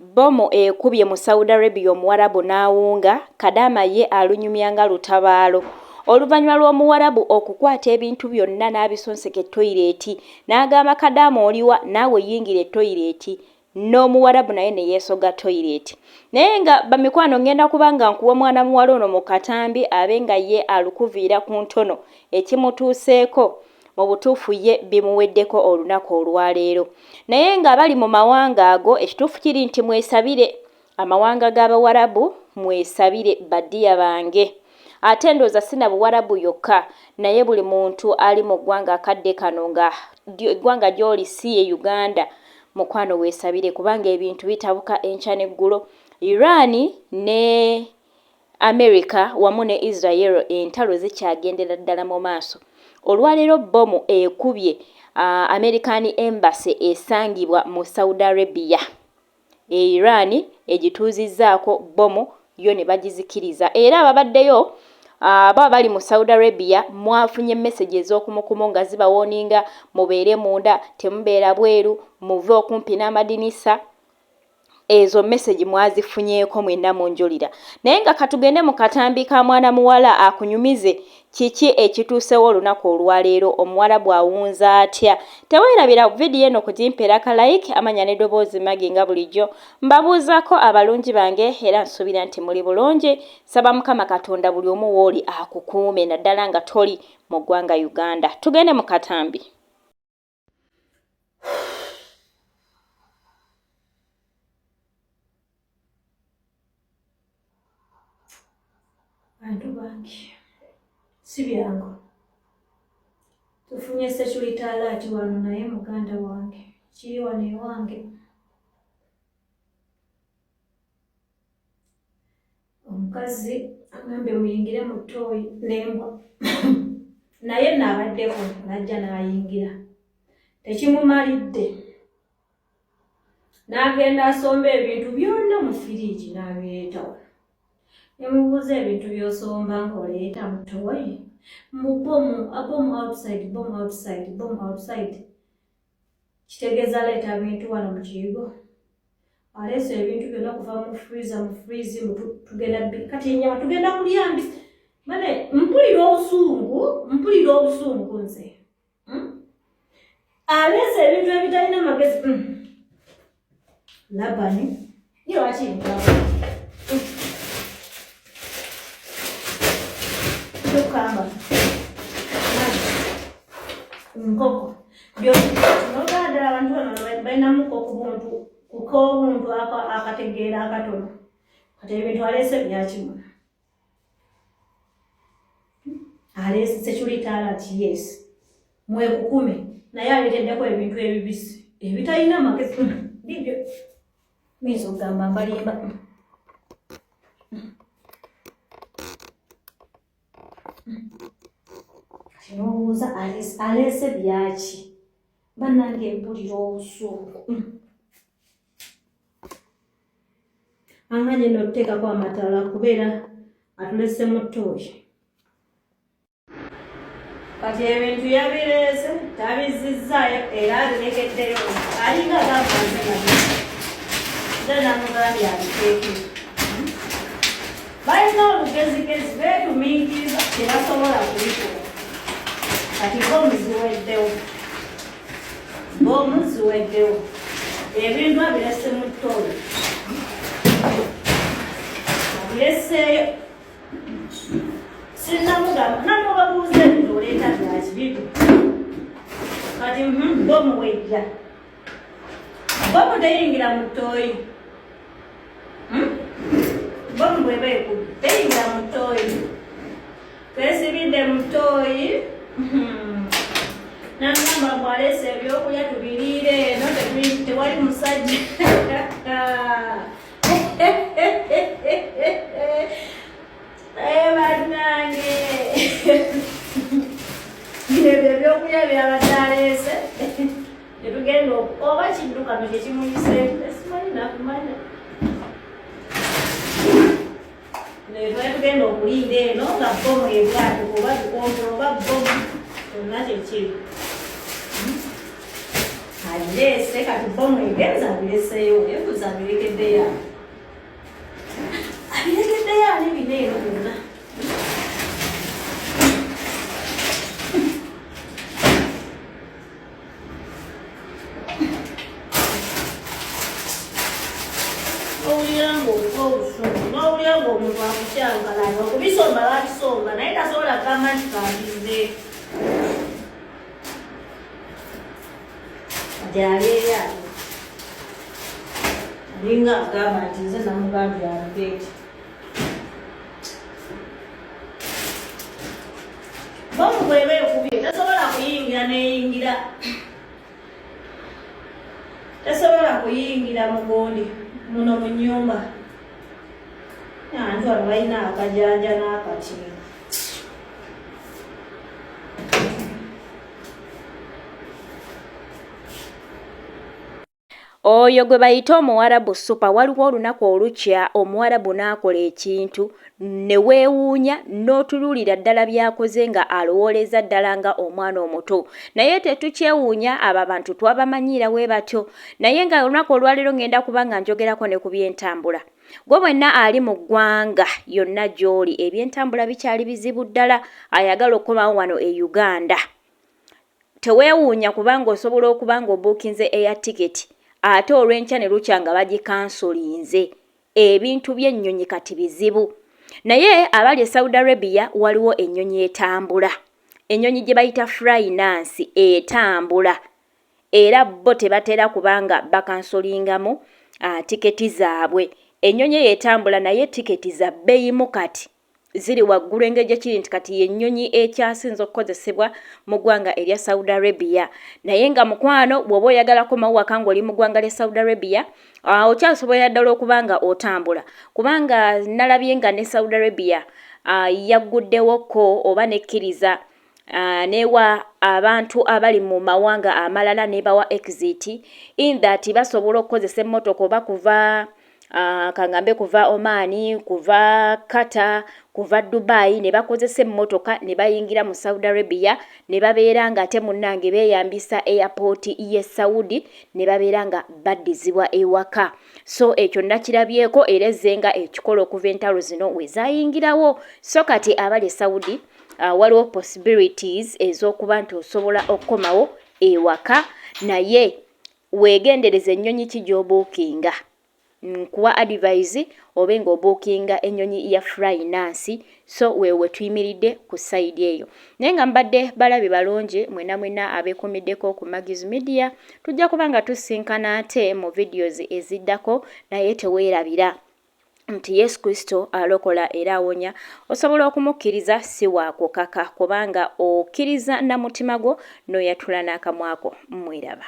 Bbomu ekubye mu Saudi Arabia Omuwarabu n'awunga, Kadaama ye alunyumya nga lutabaalo. Oluvannyuma lw'Omuwarabu okukwata ebintu byonna n'abisonseka e toyireeti n'agamba Kadaama oliwa naawe yingira e toyireeti n'Omuwarabu naye ne yeesogga toyireeti naye nga bamikwano ngenda kuba nga nkuwa mwana muwala ono mu katambi abe nga ye alukuviira ku ntono ekimutuuseeko Mu butuufu ye bimuweddeko olunaku olwaleero. Naye nga abali mu mawanga ago, ekituufu kiri nti mwesabire, amawanga g'Abawarabu, mwesabire, ba dear bange. Ate ndowooza si na Buwarabu yokka, naye buli muntu ali mu ggwanga akadde kano nga eggwanga gy'oli si ye Uganda, mukwano weesabire kubanga ebintu bitabuka enkya n'eggulo. Iran ne America wamu ne Israel entalo zikyagendera ddala mu maaso. Olwaleero bbomu ekubye American Embassy esangibwa mu Saudi Arabia e Iran egituuzizzaako bbomu yo ne bagizikiriza era ababaddeyo abo abali mu Saudi Arabia mwafunye mesegi ez'okumukumu nga zibawooninga mubeere munda, temubeera bweru, muve okumpi n'amadinisa. ezo message mwazifunyeko mwena munjulira naye nga katugende mukatambi ka mwana muwala akunyumize kiki ekituusewo olunaku olwaleero omuwarabu awunza atya tewerabira vidiyo eno kugimpera ka like amanya ne doboozi magi nga bulijjo mbabuuzako abalungi bange era nsuubira nti muli bulungi saba mukama katonda buli omu wooli akukuume naddala nga toli mu ggwanga uganda tugende mukatambi bantu bangi si byangu tufunye security alert wano naye muganda wange kiri wano ewange omukazi agambye muyingire mu tooyi nembwa naye naabaddeko najja naayingira tekimumalidde n'agenda asomba ebintu byonna mu firiigi n'abireetawo nemubuuza ebintu by'osomba ng'oleeta mu tooyi mbu bomu abomu outside bomu outside bomu outside kitegeeza leeta bintu wano mu kiyigo aleese ebintu byonna okuva mu freeza mu freeze tugenda kati enyama tugenda kulya mbi mane mpulira obusungu mpulira obusungu nze hmm? aleese ebintu ebitalina magezi hmm. Labani ye lwaki kyokamba nkoko byonogala ddala abantu bano balinamu kokubuntu kukobuntu akategeera akatono kati ebintu aleese byakimuna aleese security alert yes mwekukume naye aleeteddeko ebintu ebibisi ebitalina magezi bibyo minza okugamba mbalimba kinobuuza aleese byaki banange mpulira obusuuku anganye eno okuteekako amatala kubeera atulese mu tooyi kati ebintu yabireese tabizizzaayo era abirekeddeyo alinga gavanze nabyo nze namugambye abiteeke balina olugezigezi beetuminkiriza tebasobola kubikola kati bo muziweddewo Bomu ziweddewo ebintu abirese mu ttoola abireseeyo sinnamugamba namubabuuza ebintu oleeta byakibibi kati bomu wejja bomu teyingira mu ttooyi hmm? bomu bweba ekubi teyingira mutoyi twesibidde mutoyi hmm. nangamba bwalesa ebyokulya tubiriire eno tewali musajja banange ebyo ebyokulya byabadde aleese tetugenda oba kiddukano kyekimuyise netugenda okulinda eno nga bomu ebwato oba bikonto oba bomu kyonna kyekiri agireese kati bomu egenza abireseeyo ebuza abirekeddeyo abirekeddeyo ani bina eno byonna n'owulira ng'obuva obusungu n'owulira ng'omuntu akukyankalanya okubisomba bakisomba naye tasobola kugamba nti kandize gyaleeya alinga agamba nti nze namugambye alugeeti bomu bweba ekubye tesobola kuyingira neyingira tesobola kuyingira mugundi muno mu nyumba anti wano balina akajanja n'akakino Oyo gwe bayita omuwarabu super waliwo olunaku olukya omuwarabu n'akola ekintu ne weewuunya n'otunuulira ddala by'akoze nga alowooleza ddala nga omwana omuto naye tetukyewuunya abo abantu twabamanyiira we batyo naye nga olunaku olwaleero ngenda kuba nga njogerako ne ku by'entambula gwe bwenna ali mu ggwanga yonna gy'oli eby'entambula bikyali bizibu ddala ayagala okukomawo wano e Uganda. Teweewuunya kubanga osobola okuba ng'obuukinze eya tiketi ate olw'enkya ne lukya nga bagikansolinze. Ebintu by'ennyonyi kati bizibu. Naye abali e Saudi Arabia waliwo ennyonyi etambula. Ennyonyi gye bayita Flynas etambula era bo tebatera kuba nga bakansolingamu ah, tiketi zaabwe. Ennyonyi eyo etambula naye tiketi za bbeyimu kati. ziri waggulu engeri gye kiri nti kati y'ennyonyi ekyasinze okukozesebwa mu ggwanga erya Saudi Arabia naye nga mukwano bw'oba oyagala komawo waka ng'oli mu ggwanga lya Saudi Arabia ah, okyasobolera ddala okuba nga otambula kubanga nalabye nga ne Saudi Arabia ah, yagguddewo ko oba nekkiriza Uh, newa abantu abali mu mawanga amalala nebawa exit in that basobola okukozesa emmotoka oba kuva uh, kangambe kuva omani kuva kata kuva dubai ne bakozesa emmotoka ne bayingira mu saudi arabia ne babeera nga ate munnange beeyambisa airport ye saudi ne babeera nga baddizibwa ewaka so ekyo nakirabyeko era ezenga ekikola okuva entalo zino wezayingirawo so kati abali e saudi uh, waliwo possibilities ez'okuba nti osobola okukomawo ewaka naye weegendereza ennyonyi ki gy'obuukinga nkuwa adivise obe ng'obuukinga ennyonyi ya fryinansi so weewo wetuyimiridde ku sayidi eyo naye nga mbadde balabi balungi mwena mwena abeekumiddeko ku magis media tujja kuba nga tusinkana ate mu vidios eziddako naye teweerabira nti Yesu Kristo alokola era awonya, osobola okumukkiriza si wa kukaka kubanga okkiriza na mutima gwo n'oyatula n'akamwa ko. Mweraba.